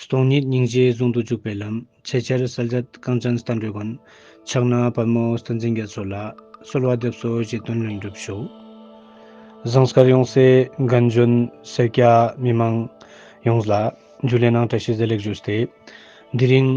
སྟོང་ཉིད་སྙིང་རྗེ་ཟུང་དུ་འཇུག་པའི་ལམ། ཚེ་ཆར་གསལ་མཛད་རྐང་ཅན་རྟ་མགྲོན་མགོན། ཕྱག་ན་པདྨོ་བསྟན་འཛིན་རྒྱ་མཚོ་ལ། གསོལ་བ་འདེབས་སོ་རྗེ་བཙུན་ལྷུན་གྲུབ་ཤོག། ཟངས་དཀར་ཡོངས་སྲས་རྒན་གཞོན་སེར་སྐྱ་མི་མང། ཡོངས་ལ། རྒྱུད་ལས་སྣང་བཀྲ་ཤིས་བཟླས་ལེགས་བརྗོད་བསྟོད། འདི་རིང།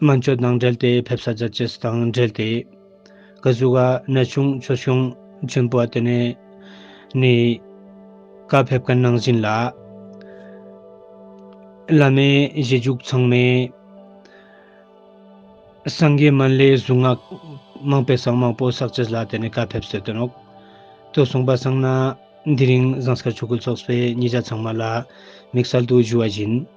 སྨན་བཅོས་དང་འབྲེལ་ཏེ་ཕེབས་ས་རྒྱ་ཇེ་ཟི་དང་འབྲེལ་ཏེ་གི་གཟུགས་ཀ་ནད་བྱུང་ཆོས་བྱུང་ཆེན་པོ་བ་དེ་ནས་ནི། ཀ་ཕེབས་ཀ་ནང་བཞིན་ལ། བླ་མའི་གཞི་འཇུག་ཚང་མས། སངས་རྒྱས་མན་ལའི་གཟུངས་སྔགས་མང་པས་སངས་མང་པོ་བསགས་ཇི་ཟི་ལ་དེ་ནས་ཀ་ཕེབས་སེ་དོན་འོག་ཏུ་གསུངས་པ་བསངས་ན། འདི་རིང་བཟང་སྐར་ཆོས་སྐུ་ཚོགས་པའི་ཉིས་བརྒྱ་ཚང་མ་ལ་དམིགས་བསལ་དུ་བཞུགས་བ་བཞིན།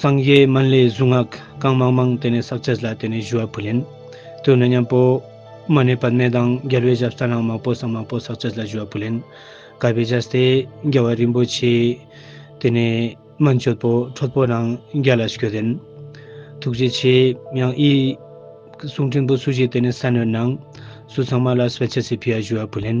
སངས་རྒྱས་སྨན་བླའི་གཟུངས་སྔགས་གང་མང་མང་དེ་ནས་བསགས་བྱས་ལ་དེ་ནས་ཞུ་བ་བུ་ལེན། དུས་ནི་མཉམ་པོ། མ་གནས་པ་གནས་དང་རྒྱལ་བའི་ཞབས་གསར་རང་མང་པོ་སངས་མང་པོ་བསགས་བྱས་ལ་ཞུ་བ་བུ་ལེན། བསྐལ་པའི་ཞབས་སྟེ་རྒྱལ་བ་རིན་པོ་ཆེ། དེ་ནས་མན་ཆོད་པོ་ཁྲོ་པོ་རང་རྒྱལ་ལ་ཞུ་ལེན། ཐུགས་རྗེ་ཆེ། ཡང་ཨི། གསུང་ཕྲན་བུ་སུ་ཞིག་དེ་ནས་ས་ནོན་ན། སུ་ཚང་མ་ལ་སྤེལ་བྱེད་ཚེ་ཕི་ཡ་ཞུ་བ་བུ་ལེན།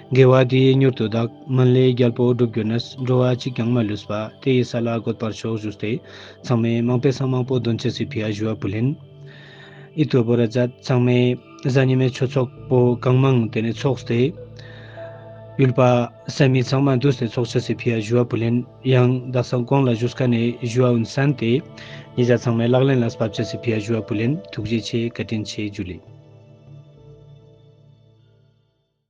དགེ་བ་དེ་ཡིས་མྱུར་དུ་བདག། སྨོན་ལས་རྒྱལ་པོ་བསྒྲུབ་གྱུར་ནས། འགྲོ་བ་གཅིག་ཀྱང་མ་ལུས་པ། དེ་ཡི་ས་ལ་འགོད་པར་ཤོག་བཞུགས་ཏེ། ཚང་མས་མང་པས་སང་མང་པོ་འདོན་བྱེད་སྲིད་ཕི་ཨ་ཞུ་བ་པུ་ལིན། ཨི་ཏུ་བོ་ར་ཛད། ཚང་མས། གཟའ་ཉི་མའི་ཆོས་ཚོགས་པོ་གང་མང་དེ་ནས་ཚོགས་ཏེ། ཡུལ་པ། སད་མི་ཚང་མ་འདུས་ཏེ་ཚོགས་བྱེད་སྲིད་ཕི་ཨ་ཞུ་བ་པུ་ལིན། ཡང་བདག་ས་གོང་ལ་བཞུགས་ཀ་ནས་ཞུ་བ་འུན་སན་ཏེ། ཉེ་ཆར་ཚང་མས་ལག་ལེན་ལ་བབ་བྱེད་སྲིད་ཕི་ཨ་ཞུ་བ་པུ་ལིན་ཐུགས་རྗེ་ཆེ་བཀའ་དྲིན་ཆེ་རྒྱུ་ལས།